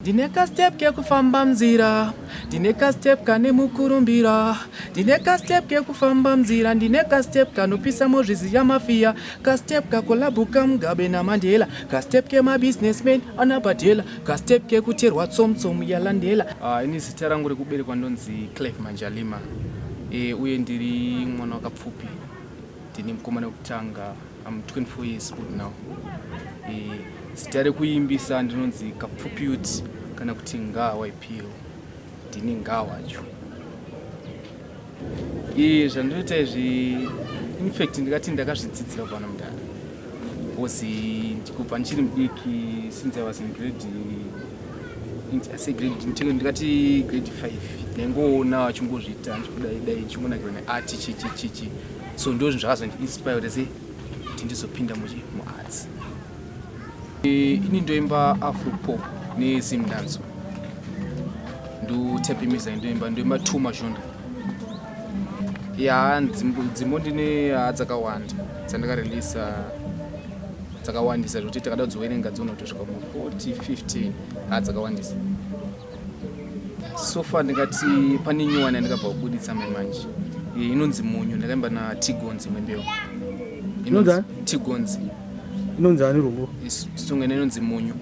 Ndine ka step kekufamba mnzira ndine ka step kane mukurumbira ndine ka step kekufamba mnzira ndine ka step kanopisa mozvizi ya mafia ka step kakolabu ka mugabe na mandela ka step ke ma businessman ana badela ka step kekuterwa tsom tsom ya landela uh, ini zita rangu rekuberekwa ndonzi clef manjalima e, uye ndiri mwana wakapfupi Ndine mukomana wekutanga, I'm 24 years old now. Eh, zita rekuimbisa ndinonzi Kapfupyuti kana kuti Ngawa Ipiro. Ndini Ngawa cho. Eh, zvandinoita izvi in fact ndikati ndakazvidzidzira kwana mudara. Because ndikubva ndichiri mudiki since I was in grade asi grade ndikati grade 5 ndaingoona achingozviita ndikudai dai ndichingonakirwa neart chichichichi so ndo zvinhu zvakazondiinspire kuti se kuti ndizopinda muchi muarts e, ini ndoimba afropop nezim danso ndotape music ndoimba ndoimba two mazhonda ya dzimbo ndine dzakawanda dzandakarelisa dzakawandisa zvekuti takada kudziwerenga dzonotosvika mu 40 15 ha dzakawandisa so far ndingati pane nyuwani yandikabva kubuditsa mai manje eh, inonzi munyu ndakaimba na tigonzi imwe mbeu inonzi tigonzi inonzi ani rungu song ina inonzi munyu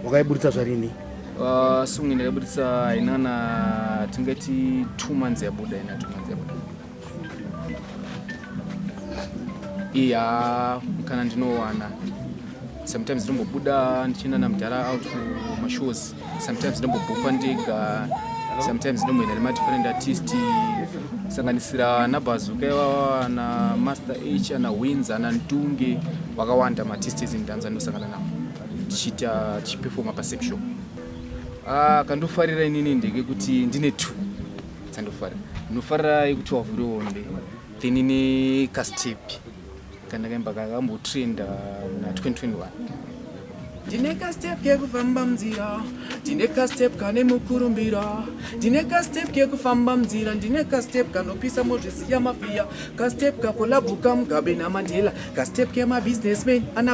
wakaibuditsa zvarini uh, song ndakaibuditsa inana tingati two months yabuda ina two months yabuda iya kana ndinowana sometimes ndinombobuda ndichienda namudhara out kumashows sometimes ndinombobhukwa ndega sometimes ndinomboenda nemadifferent artist kusanganisira ana bazuka ivava ana master h ana wins ana ntunge vakawanda matistes indanza ndinosangana navo tichiita tichipefoma pasexual ah, kandofarira inini ndekekuti ndine two dzandofara ndinofarira yekuti wavhure hombe then ine kastep kandakaimba kakambotrenda muna 2021 ndine kastep kekufamba munzira ndine kastep kane mukurumbira ndine kastep kekufamba munzira ndine kastep kanopisa mozvisiya mafiya kastep kakolabuka mugabe namandela kastep kemabusinessman ana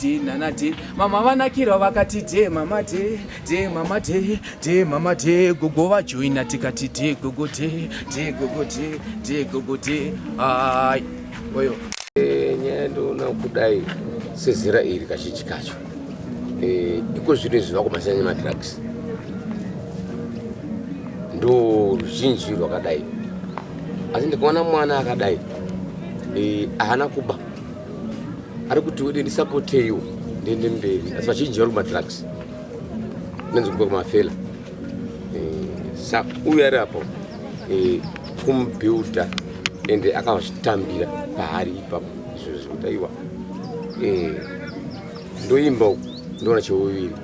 de nana de mama vanakirwa vakati de mama de de mama de de mama de gogo vajoina tikati de gogo de de gogo de de gogo de hai oyo eh, nyaya ndoona kudai sezera iri kazhinji kacho eh, iko zvino izvi vakomasiyana nemadrugs ndo ruzhinji rwakadai asi ndikaona mwana akadai eh, haana kuba ari kuti ude ndisapoteiwo ndiende mberi asi vazhinji vari kumadrugs nenzi kuba kumafela eh, sa uyu ari apo eh, kumubuilda ende akazvitambira paari ipapo izvo zvekuti aiwa eh, ndoimba uku ndoona cheuviri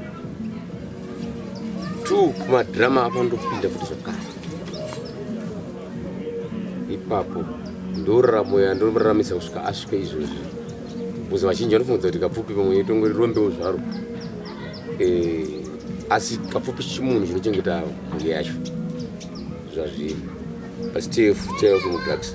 two kumadhirama apo ndopinda futi zvakare ipapo ndoraramo yandoraramise kusvika asvike izvozvi bcause vazhinji vanofungudza kuti kapfupi pamwe itongo rirombewo zvaro eh, asi kapfupi chimunhu chinochengeta mhuri yacho zvazviri but still tell to drugs